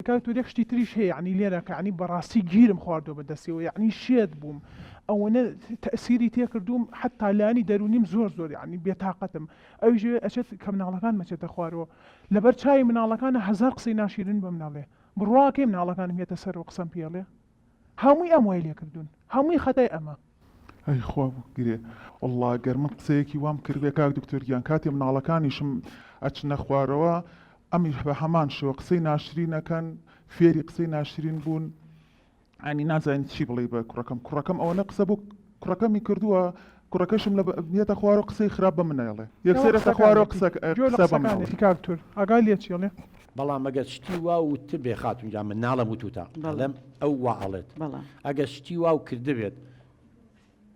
کاک تۆ یەک شتی تریش هەیە یەعنی لێرە کە یەعنی بەڕاستی گیرم خواردوە بە دەستیەوە یەعنی شێت بووم ئەوەنە تەئسیری تێ کردووم حەتا لانی دەروونیم زۆر زۆر یەعنی بێ تاقەتم ئەویش ئەوێ ئەچێت کە مناڵەکانم ئەچێتە خوارەوە لەبەر چاوی مناڵەکانە هەزار قسەی ناشیرن بەمن ئەڵێ بڕوا کەی مناڵەکانم یەتە سەرەوە قسەم پێ ئەڵێ هەمووی ئەم وای لێکردوون هەمووی خەتای ئەمە. ئەی خوا بگرێ وەڵڵا گەر من قسەیەکی وام کردبێ کاک دکتۆر گیان کاتێ مناڵەکانیشم ئەچنە خوارەوە ئەمیش بە هەمان شێوە قسەی ناشرینەکەن فێری قسەی ناشرین بوون ئەنی نازانین چی بڵێ بە کوڕەکەم کوڕەکەم ئەوەنە قسە بۆ کوڕەکەمی کردووە کوڕەکەشم لە یەتە خوارو قسەی خراپ بە من نایڵێ یەکسەر یەتە خوارو قسە گوێ لە قسە بە من ئەڵێ. قسەکانێتی کاک تور ئاگای لێ چیڵێ. بەڵام ئەگەر شتی وا وتبێ خاتون گیان من ناڵێم وتوتە ئەڵێم ئەو وا ئەڵێت ئەگەر شتی وا و کردبێت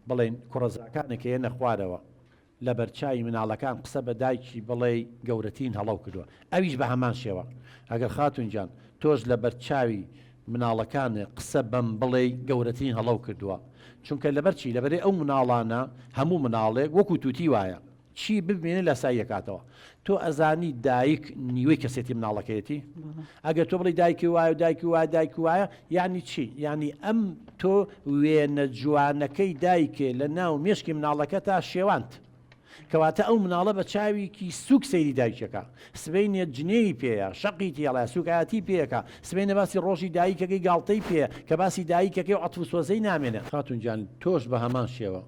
بڵێین کوڕەزاکانێک کە یەنە خوارەوە لە بەرچاوی مناڵەکان قسە بە دایکی بڵێی گەورەترین هەڵەو کردوە ئەویش بە هەمان شێوە. ئەگەر خاتوون گیان تۆش لە بەر چاوی مناڵەکان قسە بەم بڵێی گەورەترین هەڵەو کردووە. چونکە لەبەر چی؟ لەبەرەی ئەو مناڵانە هەموو مناڵێک وەکوو تووتی وایە. چی ببینێ لاسایی ئەکاتەوە. تۆ ئەزانی دایک نیوەی کەسێتی مناڵەکەیەتی؟ ئەگەر تۆ بڵێی دایکی وایە و دایکی وایە دایکی وایە یانی چی؟ یانی ئەم تۆ وێنە جوانەکەی دایکێ لە ناو مێشکی مناڵەکەتا شێواند. کەواتە ئەو مناڵە بە چاویکی سوک سەیری دایکەکە سبەینێ جنێوی پێیە شەقی تێڵە سوکایەتی پێکە سبەینە باسی ڕۆژی دایکەکەی گاڵتەی پێ کە باسی دایکەکەی و عەتفو سۆزەی نامێنێ. خاتون گیان تۆش بە هەمان شێوە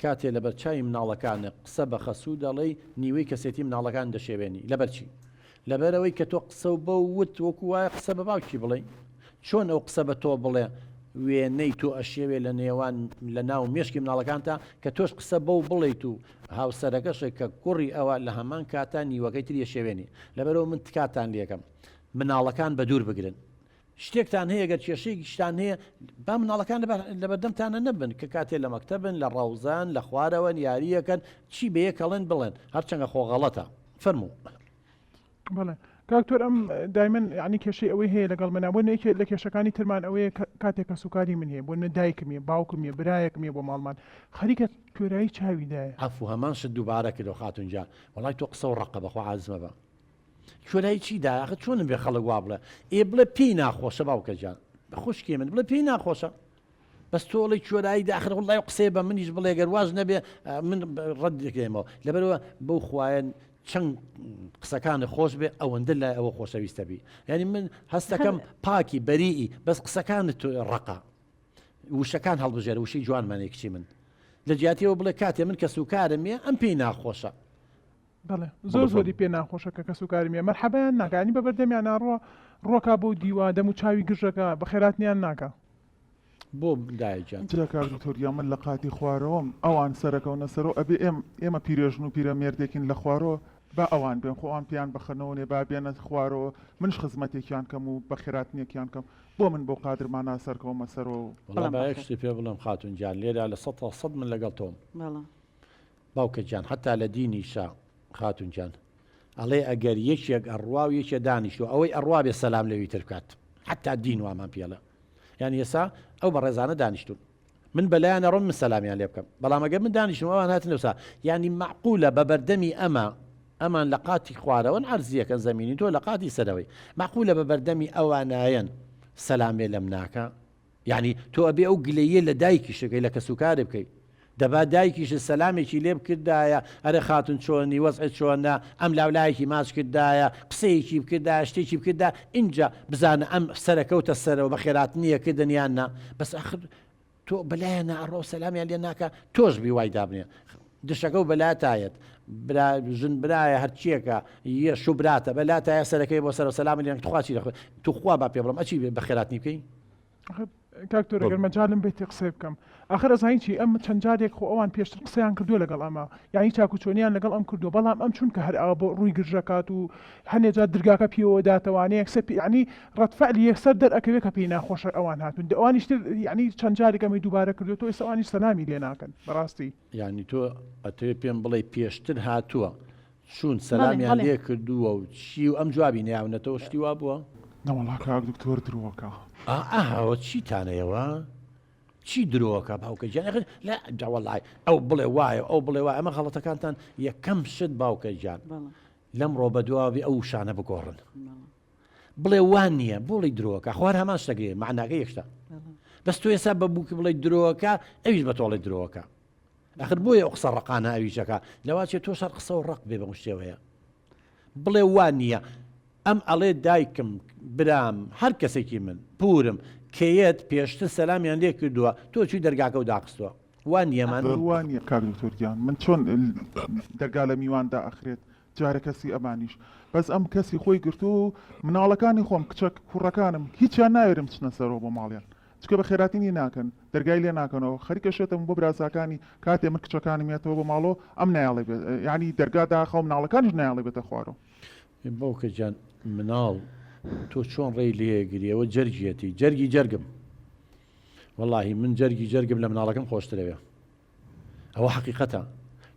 کاتێ لەبەر چاوی مناڵەکانت قسە بە خەسوو دەڵێی نیوەی کەسێتی مناڵەکانت دەشێوێنی لەبەر چی؟ لەبەرەوەی کە تۆ قسە و بەو وت وەکو وایە قسە بە باوکی بڵێ چۆن ئەو قسە بە تۆ بڵێ وێنەی تۆ ئەشێوێ لە نێوان لە ناو مێشکی مناڵەکانتا کە تۆش قسە بەو بڵیت و هاوسەرەکەشێک کە کوڕی ئەوە لە هەمان کاتا نیوەکەی تریە شێوێنی لەبەرەوە من تکاتان لەکەم مناڵەکان بە دوور بگرن شتێکتان هەیە گەر کێشەیەکیشتان هەیە با مناڵەکان لەبەردەمتانە نەبن کە کاتێ لە مەکتەبن لە ڕەوزەن لە خوارەوەن یاریەکەن چی بەیە کەڵێن بڵێن هەرچەنگە خۆ غەڵەتە فەرموو. بەڵێ کاکتۆر ئەم دایمەن ینی کێشەی ئەوەی هەیە لەگەڵ منە بۆ نەیکێت لە کێشەکانی ترمان ئەوەیە کاتێک کە سوکاری من هەیە بۆ نە دایکم یە باوکم یە برایەکم یە بۆ ماڵمان خەریکە کوێرایی چاویدایە. عەفو هەمان شت دووبارە کردەوە خاتون گیان وەڵای تۆ قسە و ڕەقە بەخوا عازمە بە. چۆنای چی دا ئاخە چۆنم بێ خەڵک وا بڵێ ئێ بڵێ پێی ناخۆشە باوکە جان خوشکی من بڵێ پێی ناخۆشە بەس تۆڵی چۆرایی داخر وڵی قسێ بە منیش بڵێ گەر واز نەبێ من ڕەت دەکەێمەوە لەبەرەوە بەو خوایەن چەند قسەکان خۆش بێ ئەوەندە لای ئەوە خۆشەویستە بی یعنی من هەستەکەم پاکی بەریئی بەس قسەکان تو ڕقا وشەکان هەڵبژێر وشەی جوانمانێکچی من لە جیاتیەوە بڵێ کاتێ من کەس و کارم یە ئەم پێی ناخۆشە بەڵێ زۆر زۆری پێ ناخۆشە کە کەسوکاری مێ مەرحەبایان ناکە ینی بە بەردەمیان ناڕوا ڕۆکا بۆ دیوا دەم و چاوی گرژەکە بە خێراتنیان ناکە بۆ دایکیان جا کاک دکتۆر یا من لە قاتی خوارەوەم ئەوان سەرەکەونە سەرۆ ئەبێ ئێم ئێمە پیرێژن و پیرەمێردێکین لە خوارۆ با ئەوان بێن خۆ ئەوان پێیان بەخەنەوە نێ با بێنە خوارەوە منش خزمەتێکیان کەم و بە خێراتنیەکیان کەم بۆ من بۆ قادر مانا سەرکەومە سەرۆ وڵا بەڵام با یەک بەخێر. شتی پێ بڵێم خاتون گیان لێرا لە سەتا سەد من لەگەڵ تۆم بەڵام باوکە گیان حەتا لە دینیشا خاتون گیان ئەڵێ ئەگەر یەکێک ئەڕوا و یەکێ دانیشتو ئەوەی ئەڕوا بێ سەلام لەوی تر بکات حەتا دین وامان پێڵە یان ئێسا ئەو بە ڕێزانە دانیشتون من بەلایان ئەڕۆم من سەلامیان لێ بکەم بەڵام ئەگەر من دانیشتم ئەوان هاتن لەسا یعنی معقولە بە بەردەمی ئەمە ئەمان لە قاتی خوارەوەن عرزیەکەن زمینی تۆ لە قاتی سەرەوەی معقولە بە بەردەمی ئەوانایەن سەلامێ لەم ناکە یەعنی تۆ ئەبێ ئەو گلەییە لە دایکیشت بکەی لە کەسوکارت بکەی دەبا دایکیشت سەلامێکی لێ بکردایە ئەرێ خاتون چۆنی وەزعت چۆنە ئەم لاو لایەکی ماچ کردایە قسەیەکی بکردایە شتێکی بکردایە ئینجا بزانە ئەم سەرە کەوتە سەرەوە بە خێراتنیە کردن یان نا بەس ئاخر تۆ بەلایانا ئەڕۆ سەلامیان لێ ناکا تۆش بی وای دابنێ دشەکەو بە لا تایەت برا ژن برایە هەرچیەکە یە شو براتە بە لا تایە سەرەکەی بۆ سەرە سەلام لێنک تخوا چی دەخۆی توخوا با پێ بڵم ئەچی بە خێراتنی بکەی ئەخر کاک تۆر گەر مەجالم بێتی قسەی بکەم ئەخر ئەزانی چی ئەم چەند جارێک خۆ ئەوان پێشتر قسەیان کردووە لەگەڵ ئەمە یعنی چاکو چۆنیان لەگەڵ ئەم کردووە بەڵام ئەم چونکە هەر ئاوا بۆ ڕووی گرژەکات و هەندێ جار درگاکە پێوە داتەوانێ یەکسەر پێ یعنی ڕەد فعلی یەکسەر دەرئەکەوێ کە پێی ناخۆشە ئەوان هاتوون دە ئەوانیش تر یعنی چەند جارێک ئەمەی دووبارە کردووە تۆ ئێستا ئەوانیش سەلامی لێ ناکەن بەڕاستی یانی تۆ ئەتەوێ پێم بڵێی پێشتر هاتووە چوون سەلامیان لێ کردووە و چی و ئەم جوابی نەیاونەتەوە شتی وا بووە؟ نەوەڵا کاک دکتۆر درۆکە. ئاهاوە چیتانە ئێوە؟ چی درۆکە باوکە گیان ئەخر لە داوەڵای ئەو بڵێ وایە ئەو بڵێ وایە ئەمە غەڵەتەکانتان یەکەم شت باوکە گیان لەمڕۆ بەدواوی ئەو شانە بگۆڕن بڵێ وان نییە بۆڵی درۆکە خوار هەمان شتەگرێ معناگە یەکشتا بەس تو ێسا بە بووکی بڵێ درۆکە ئەویش بە تۆڵی درۆکە ئەخر بۆیە قسە ڕقانە ئەویشەکە لەواچێ تۆ شەر قسە و ڕق بێ بە شێوەیە بڵێ وان نییە ئەم ئەڵێ دایکم برام هەر کەسێکی من پورم کەیەت پێشتر سەلامیان لێ کردووە تۆ چی دەرگاکە و داخستووە وان یەمان وان یە کاک دکتۆرگیان من چۆن دەرگا لە میواندا ئەخرێت جارێ کەسی ئەمانیش بەس ئەم کەسی خۆی گرتووە و مناڵەکانی خۆم کچە کوڕەکانم هیچیان ناوێرم بچنە سەرەوە بۆ ماڵیان چکە بە خێراتی نی ناکەن دەرگای لێ ناکەنەوە خەریکە شێتم بۆ برازاکانی کاتێ من کچەکانم یەتەوە بۆ ماڵۆ ئەم نایاڵێ بێت یعنی دەرگا داخە و مناڵەکانیش نایاڵێ بێتە خوارۆ باوکە جان مناڵ تۆ چۆن ڕێی لێگری ئەوە جەرگیەتی جەرگی جەرگم وەڵی من جەرگی جەرگم لە مناڵەکەم خۆشترەوێ ئەوە حەقیقەتە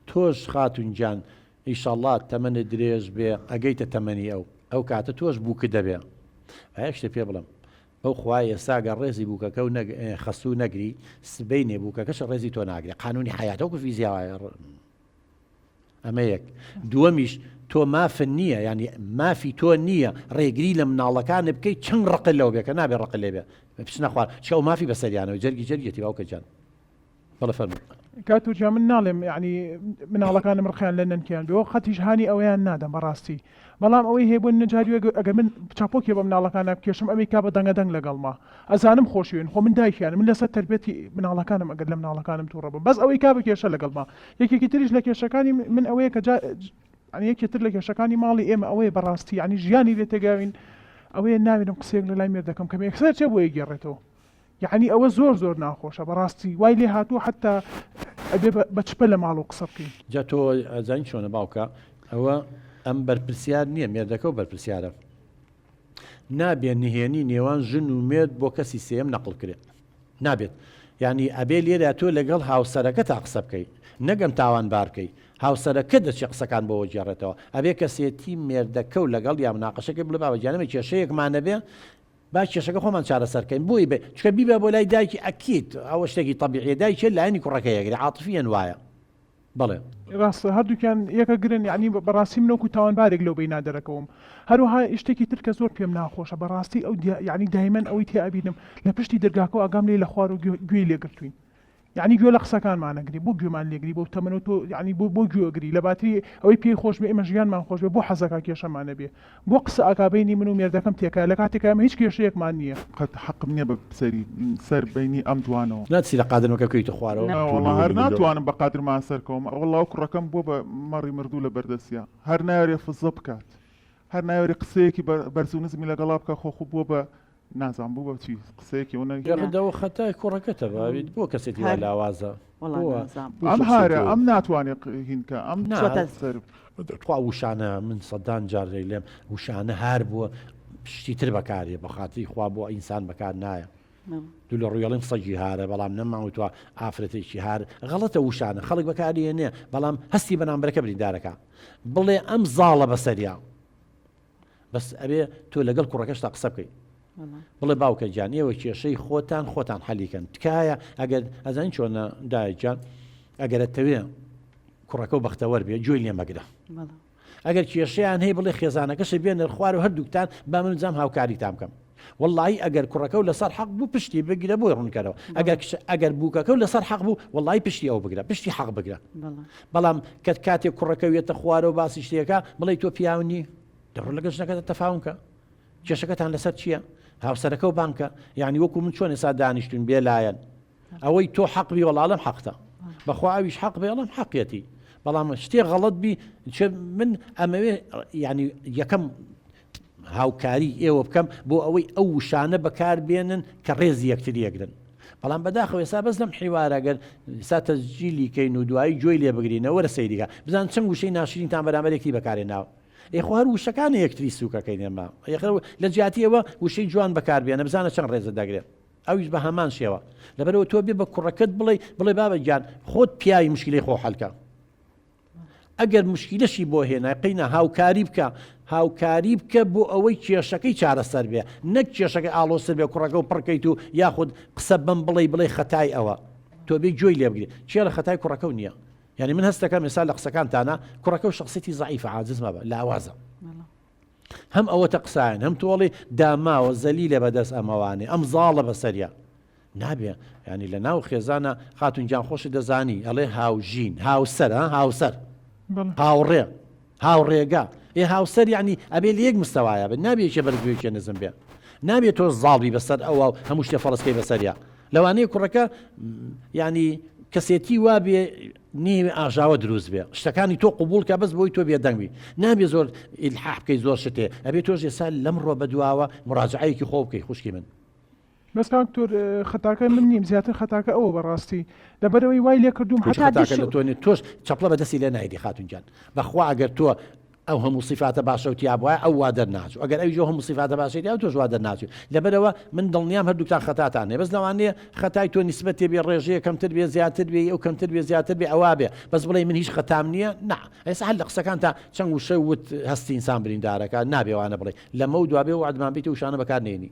تۆش خاتون گیان ئیشەڵا تەمەنت درێژ بێ ئەگەیتە تەمەنی ئەو ئەو کاتە تۆش بووکت دەبێ ئایەک شتێ پێ بڵم ئەو خوای ئێستا گەر ڕێزی بووکەکە و خەسوو نەگری سبینێ بووکەکەش ڕێزی تۆ ناگرێ قانونی حیاتەوەکو فیزیاوایە ئەمە یەک دووەمیش تۆ مافن نییە ینی مافی تۆ نییە ڕێگری لە مناڵەکانە بکەیت چەند ڕق لەو بێکە نابێ ڕق لێ بێ بچنە خوار چەو مافی بەسەریانەوە جەرگی جەرگێتی باوکەجان بەڵێ فەرموو. کاکتۆ گیان من ناڵێم یەعنی مناڵەکانم ڕقیان لە نەنکیان بێ وە قەتیش هانی ئەوەیان نادەم بەڕاستی بەڵام ئەوەی هەیە بۆ نەجاری ئەگە ئەگەر من چاپۆکێ بە مناڵەکانا بکێشم ئەمەی کا بە دەنگە دەنگ لەگەڵما ئەزانم خۆشەوێن خۆ من دایکیانم من لەسەر تەربێتی مناڵەکانم ئەگەر لە مناڵەکانم توڕە بم بەس ئەوەی کا بە کێشە لەگەڵما یەکێکی تریش لە کێشەکانی من ئەوەیە کە جا یەعنی یەکێ تر لە کێشەکانی ماڵی ئێمە ئەوەیە بەڕاستی یەعنی ژیانی لێ تێگاوین ئەوەیە ناوێرم قسەیەک لە لای مێردەکەم کەم ئێکسەر چێ بۆ یەگێڕێتەوە یەعنی ئەوە زۆر زۆر ناخۆشە بەڕاستی وای لێ هاتووە حەتا ئەبێ بە چپە لە ماڵەوە قسە بکەین. جا تۆ ئەزانی چۆنە باوکە ئەوە ئەم بەرپرسیار نییە مێردەکە و بەرپرسیارە نابێ نهێنی نێوان ژن و مێرد بۆ کەسی سێیەم نەقڵ کرێ نابێت یعنی ئەبێ لێرە تۆ لەگەڵ هاوسەرەکە تا قسە بکەی نەگەم تاوان بارکەی هاوسەرەکە دەچێ قسەکان بۆەوە گێڕێتەوە ئەبێ کەسێتی مێردەکە و لەگەڵ یا مناقەشەکە بڵێ باوەجیانەمە کێشەیەکمانەبێ با کێشەکە خۆمان چارەسەر کەین بۆی بێ چکە بیبا بۆ لای دایکی ئەکید ئەوە شتێکی تەبیعیە دایکێ لایەنی کوڕەکەی ئەگرێ عاتفیەن وایە بەڵێ. ڕاستە هەردووکیان یەکە گرن یەعنی بەڕاستی من وەکو تاوانبارێک لەو بەینە دەرەکەوم هەروەها شتێکی تر کە زۆر پێم ناخۆشە بەڕاستی ئەو یەعنی دایمەن ئەوەی تێ ئەبینم لە پشتی دەرگاکەو ئاگام لێی لە خوارو گوێی لێگرتوین یەعنی گوێ لە قسەکانمان ئەگری بۆ گوێمان لێگری بەو تەمەنە تۆ یەعنی بۆ بۆ گوێ ئەگری لە باتری ئەوەی پێی خۆش بێ ئێمە ژیانمان خۆش بێ بۆ حەزەکا کێشەمان نەبێ بۆ قسە ئەکا بەینی من و مێردەکەم تێکایە لە کاتێکا ئێمە هیچ کێشەیەکمان نییە. قەت حەقم نییە بە سەری سەر بەینی ئەم دوانەوە. نا چی لە قادر مەکە بکەویتە خوارەوە. نا وەڵا هەر ناتوانم بە قادر ما سەر کەوم وەڵا و کوڕەکەم بووە بە مەڕی مردوو لە بەردەستیا هەر نایەوێ فزە بکات هەر نایەوێ قسەیەکی بەرزو نزمی لەگەڵا بکا خۆ خو بووە بە نازانم بۆ بەچی قسەیەکی ئەو نەگیرا. یاخی داوە خەتای کوڕەکەتە باویت بۆ کەسێتی وا لاوازە بۆ ئەم هارە ئەم ناتوانێ هینکە ئەم چۆتە سەر. تخوا وشانە من سەدان جار دەیلێم وشانە هار بۆ شتی تر بەکاریە بەخاتری خوا بۆ ئینسان بەکار نایە دوو لە ڕویڵیم سەگی هارە بەڵام نەماوتوە ئافرەتێکی هار غەڵەتە وشانە خەڵک بەکاریە نیە بەڵام هەستی بەرامبەرەکە بریندارەکە بڵێ ئەم زاڵە بەسەریا بەس ئەبێ تۆ لەگەڵ کوڕەکەشتا قسە بکەی بڵێ باوکە گیان ئێوە کێشەی خۆتان خۆتان حەلیکەن تکایە ئەگەر ئەزان چۆنە دایکیان ئەگەرە تەوێ کوڕەکە و بەختەوەەر بێ جوێی لێمەگرە ئەگەر کێشیان هەیە بڵێ خێزانەکەشە بێنەر خوار و هەردووکتان با من جام هاوکاری تام بکەم وەڵایی ئەگەر کوڕەکەو لەسەر حەق بوو پشتی بگرە بۆی ڕوونکەرەوە ئەگەر کچ ئەگەر بووکەکەو لەسەر حەق بوو وەڵی پشتی ئەو بگرە پشتی حەق بگرە بەڵام کە کاتێک کوڕەکەوێتە خوارەوە باسی شتێکە بڵی تۆ پیاونی دەڕۆ لەگە ژنەکەتە تەفاونکە کێشەکەتان لەسەر چییە؟ هاوسەرەکە و بانکە یعنی وەکو من چۆن ێسا دانیشتون بێلایەن ئەوەی تۆ حەق بی وەڵا ئەڵێم حەقتە بەخوا ئەویش حەق بێ ئەڵێم حەقیەتی بەڵام شتێ غەڵت بی چ من ئەمەوێ ینی یەکەم هاوکاری ئێوە بکەم بۆ ئەوەی ئەو وشانە بەکار بێنن کە ڕێزی یەکتر یەکرن بەڵام بەداخەوە ئێستا بەس لەم حیوارەگەر سا تەزجیلی کەین و دوایی جۆی لێ بگرینەوە رە سەیریگە بزان چەند وشەی ناشرینتان بەرامەرێکی بەکارێ ناوە ئێخوا هەر وشەکانی یەکتری سوکەکەی نێما یخ لە جیاتی ئەوە وشەی جوان بەکاربیێنە بزانە چەند ڕێزە دەگرێت ئەویش بە هەمان شێوە. لەبەرئەوە تۆ بێ بە کوڕەکەت بڵێ بڵێ بابە گیان خۆت پیاوی مشکلی خۆ حەلکە. ئەگەر مشکلەشی بۆ هێنای قینا هاوکاری بکە هاوکاری بکە بۆ ئەوەی کێشەکەی چارەسەر بێ نەک کێشەکەی ئاڵۆسر بێ کوڕەکە و پڕکەیت و یاخود قسە بم بڵێ بڵێ خەتای ئەوە تۆ بێ گوێی لێبگرێت چێ لە خەتای کوڕەکە نییە یعنی من هەستەکەم ێسا لە قسەکانتانە کوڕەکە و شخصێتی زعیف عاجز مەبە لاوازە هەم ئەوەتە قسایان هەم تۆ ئەڵێی داماوە زەلیلە بەدەست ئەمەوانێ ئەم زاڵە بەسەریا نابێ ینی لە ناو خێزانە خاتون گیان خۆشی دەزانی ئەڵێ هاوژین هاوسەر هاوسەر هاوڕێ هاوڕێگا ئێ هاوسەر ینی ئەبێ لە یەک مستەوایە بن نابێکێ بەرزوێکێ نزم بێ نابێت تۆ زاڵبی بەسەر ئەوە هەموو شتێ فەڵستکەی بەسەریا لەوانەیە کوڕەکە ینی کەسێتی وابێ نیوی ئاژاوە دروست بێ شتەکانی تۆ قوبول کە بەس بۆی تۆ بێدەنگوی نابێ زۆر ئیلحاح بکەی زۆر شتێ ئەبێ تۆش ئێستا لەم ڕۆ بەدواوە مراجعەیەکی خۆ بکەی خوشکی من بەس کاک تۆر خەتاکە من نیم زیاتر خەتاکە ئەوە بەڕاستی لەبەرەوەی وای لێ کردوم حتا خەتاکە دش لە تۆ نیە تۆش چەپڵە بە دەستی لێ نایدی خاتونجان بەخوا ئەگەر تۆ ئەو هەموو سیفاتە باشە و تیا بوایە ئەو وا دەرناچوو ئەگەر ئەویش ئەو هەموو سیفاتە باشەی تیا بوو تۆش وا دەرناچووی لەبەرئەوە من دڵنیام هەردووکتان خەتاتان هەیە بەس لەوانەیە خەتای تۆ نیسبەت تێبێ ڕێژەیە کەمتر بێ زیاتر بێ ی ئەو کەمتر بێ زیاتر بێ ئەوا بێ بەس بڵێی من هیچ خەتام نییە نا ئێستا هەر لە قسەکانتا چەند وشە وت هەستی ئینسان بریندارەکە نابێ وانە بڵێی لەمەو دوا بێ وەعدمان بی تۆ وشانە بەکار نێنی